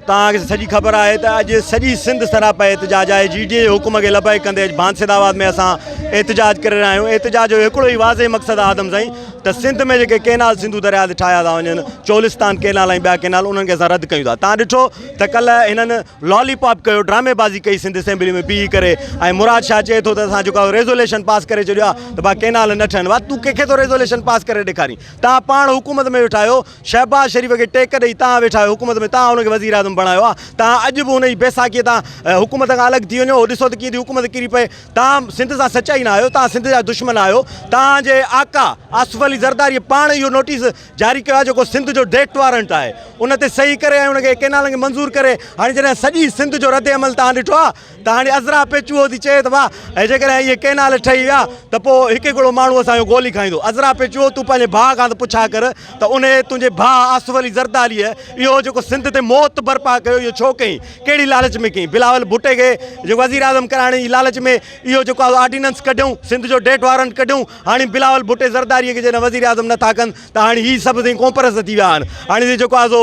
توهان کي سڄي خبر آهي ته اڄ سڄي سنڌ سراپا احتجاج آهي، جي ڊي اي حڪم کي لبيڪ ڪندي اڄ بانسد آباد ۾ اسان احتجاج ڪري رهيا آهيون، احتجاج جو هڪڙو ئي واضح مقصد آهي آدم سائين ته سنڌ ۾ جيڪي ڪينال سنڌو درياء تي ٺاهيا ٿا وڃن چولستان ڪينال ۽ ٻيا ڪينال انهن کي اسان رد ڪيون ٿا، توهان ڏٺو ته ڪلهه هنن لالي پاپ ڪيو ڊرامي بازي ڪئي سنڌ اسيمبلي ۾ بيهي ڪري ۽ مراد شاهه چئي ٿو ته اسان جيڪو ريزوليشن پاس ڪري ڇڏيو آهي ته ڀا ڪينال نه ٺهن ڀا تون ڪنهن کي ٿو ريزوليشن پاس ڪري ڏيکارين توهان پاڻ حڪومت ۾ ويٺا آهيو شهباز شريف کي ٽيڪ ڏئي توهان ويٺا آهيو حڪومت ۾ توهان ان کي وزيراعظم بڻايو آهي توهان اڄ به ان جي بيساکي تان حڪومت کان الڳ ٿي وڃو ڏسو ته ڪيئن ٿي حڪومت ڪري پئي توهان سنڌ سان سچا ئي نه آهيو توهان سنڌ جا دشمن آهيو توهان جي آقا آصف علي زرداري پاڻ اهو نوٽيس جاري ڪيو آهي جيڪو سنڌ جو ڊيٽ وارنٽ آهي ان تي صحيح ڪري ۽ ان کي ڪينالن کي منظور ڪري هاڻي جڏهن سڄي سنڌ جو رد عمل توهان ڏٺو آهي ته هاڻي عذرا پئي چوهو ٿي چئي ته واهه ۽ جيڪڏهن اهي ڪئنال ٺهي ويا ته پوء هڪ هڪڙو ماڻهو اسان جو گولي کائيندو. عذرا پئي چوهو تون پنهنجي ڀاء کان ته پڇا ڪر ته انهيء تنهنجي ڀاء آصف علي زرداريء اهو جيڪو سنڌ تي موت برپا ڪيو اهو ڇو ڪيئي؟ ڪهڙي لالچ ۾ ڪيئي؟ بلاول ڀٽي کي جيڪو وزيراعظم ڪرائڻ جي لالچ ۾ اهو جيڪو آرڊيننس ڪڍيئون، سنڌ جو ڊيٿ وارنٽ ڪڍيئون، هاڻي بلاول ڀٽي زرداريء کي جڏهن وزيراعظم نه ٿا ڪن ته هاڻي هي سڀ سائين ڪونپرست ٿي ويا آهن. هاڻي سائين جيڪو آهي سو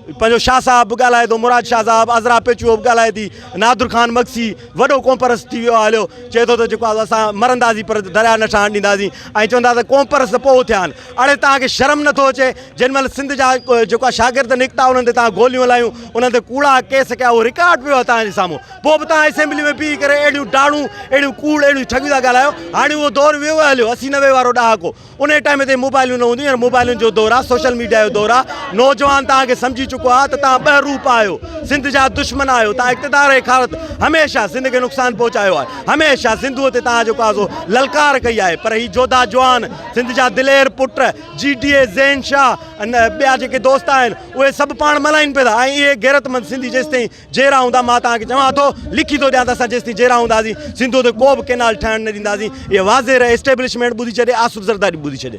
پنهنجو شاهه صاحب به ڳالهائي ٿو، مراد شاهه صاحب، عذرا پيچوء به ڳالهائي ٿي، نادر خان مگسي وڏو ڪونپرست ٿي ويو آهي هليو، چئي ٿو ته جيڪو آهي سو اسان مرنداسين پر درياء نه ٺهڻ ڏينداسين ۽ چون ٿا ته ڪونپرست پوء اٿيا آهن. اڙي توهان کي شرم نٿو اچي جن مهل سنڌ جا جيڪو آهي شاگرد نڪتا انهن تي توهان گوليون هلايون، انهن تي ڪوڙا ڪيس ڪيا اهو رڪارڊ پيو آهي توهان جي سامهون پوء به توهان اسيمبلي ۾ بيهي ڪري اهڙيون ڊاڙون، اهڙيون ڪوڙ، اهڙيون ٺڳيون ٿا ڳالهايو. هاڻي اهو دور ويو آهي هليو، اسي نوي وارو ڏهاڪو. انهيء ٽائيم تي موبائلون نه هونديون هينئر موبائلن جو دور آ سوشل ميڊيا جو دور آ نوجوان توهان کي سمجهي چڪو آ ته توهان ٻه روپ آهيو سنڌ جا دشمن آهيو توهان اقتدار جي خارت هميشه سنڌ کي نقصان پهچايو آهي هميشه سنڌوء تي توهان جيڪو آ سو للڪار ڪئي آهي پر هي جوڌا جوان سنڌ جا دلير پٽ جي ڊي اي زين شاهه ۽ ٻيا جيڪي دوست آهن اهي سڀ پاڻ ملائين پيا ٿا ۽ اهي غيرتمند سنڌي جيستائين جيئرا هوندا مان توهان کي چوان ٿو لکي ٿو ڏيان ته اسان جيستائين جيئرا هونداسين سنڌوء تي ڪو به ڪينال ٺهڻ نه ڏينداسين اهو واضح رهي اسٽيبلشمينٽ ٻڌي ڇڏي آصف زرداري به ٻڌي ڇڏي.